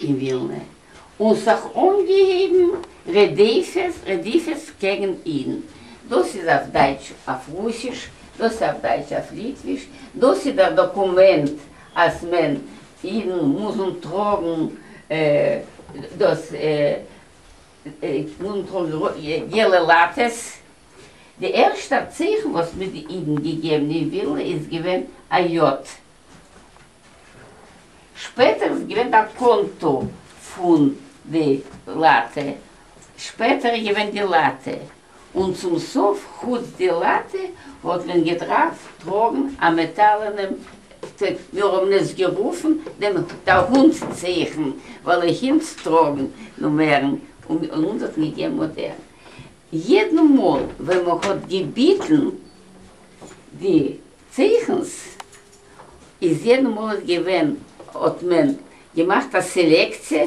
אין ווילנע, און ס'האך אנגעהויבן רדיפות רדיפות קעגן אידן, דאס איז אויף דייטש אויף רוסיש, דאס איז אויף דייטש אויף ליטוויש, דאס איז דער דאקומענט אז מען אידן מוזן טראגן דאס מוזן טראגן געלע לאטעס, די ערשטער צייכן וואס מ'האט די אידן געגעבן אין ווילנע איז געווען א יו ט. שפעטער איז געווען די קאנטא פון די לאטע, שפעטער איז געווען די לאטע, און צום סוף חוץ די לאטע האט מען געדרארפט טראגן א מעטאלענעם טעג, מיר האבן עס גערופן דעם דער הונט צעכן, ווייל א הינט טראגן נומערן, און אונז האט מען געגעבן אדער יעדן מאל ווען מען האט געביטן די צייכנס איז יעדן מאָנאַט געווען, האָט מען געמאַכט אַ סעלעקציע,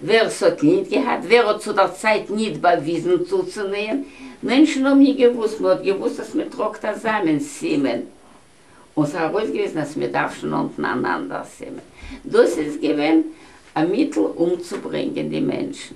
ווער ס'האָט ניט געהאַט, ווער האָט צו דער צייט ניט באַוויזן צוצונעהן, מענטשן האָבן ניט געוואוסט, מען האָט געוואוסט, אַז מען טראָגט אַ זאַמען, סימן, און ס'האָט אַרויסגעוויזן, אַז מען דאַרף שוין נאָנטן אַן אַנדער סימן. דאָס איז געווען אַ מיטל אומצוברענגען די מענטשן.